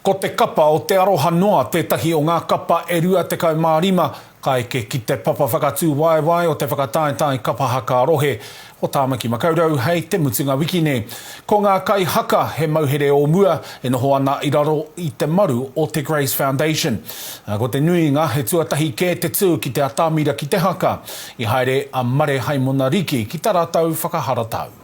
Ko te kapa o te aroha noa tētahi o ngā kapa e 25 ka eke ki te papa whakatūwaewae o te whakataetae Kapa Haka Rohe o Tāmaki Makaurau hei te mutunga wiki nei. Ko ngā kaihaka he mauhere o mua e noho ana i raro i te maru o te Grace Foundation, ā, ko te nuinga he tuatahi kē te tū ki te atamira ki te haka. I haere a Mare Haimona Riki ki ta ratou whakaharatau.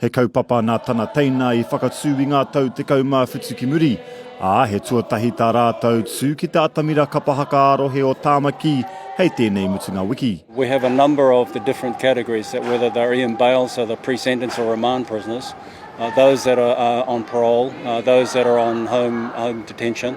He kaupapa nā tana teina i whakatū i ngā tau tekau mā whitu ki muri, ā, he tuatahi tā rātou tū ki te atamira kapa haka ā-rohe o Tāmaki hei tēnei mutunga wiki. We have a number of the different categories that whether they're Ian Bail, so the pre-sentence or remand prisoners, those that are on parole, those that are on home detention,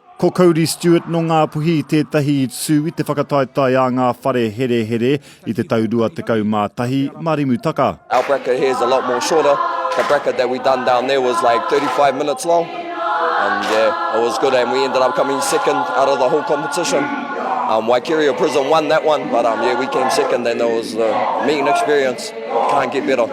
Ko Cody Stewart nō Ngāpuhi tētahi i tū i te whakataetae a ngā whare herehere i te tau 21, mā Rimutaka. Our bracket here is a lot more shorter, the bracket that we done down there was like 35 minutes long and yeah it was good and we ended up coming second out of the whole competition, um Waikeria Prison won that one but um yeah we came second and it was a mean experience, can't get better.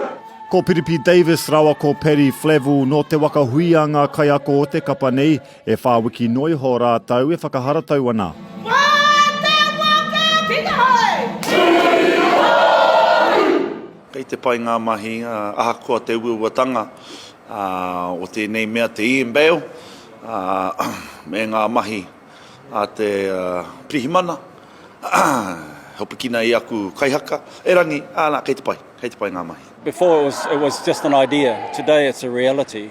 Ko Piripi Davis rāua ko Paddy Flavell nō Te Waka Hui a ngā kaiako o te kapa nei, E whā wiki noa iho rātou e whakaharatau ana. Kei te pai ngā mahi ahakoa te uauatanga o tēnei mea te Ian Bale me ngā mahi a te Pirihimana he hopikina i aku kaihaka erangi, ana kei te pai, kei te pai ngā mahi. Before it was just an idea, today it's a reality.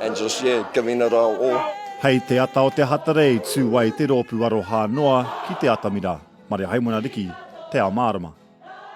Angeles, yeah, giving it our all. Hei te ata o te hatare i tū ai te roopu aroha noa ki te atamira. Maria Haimona Riki, Te Ao Mārama.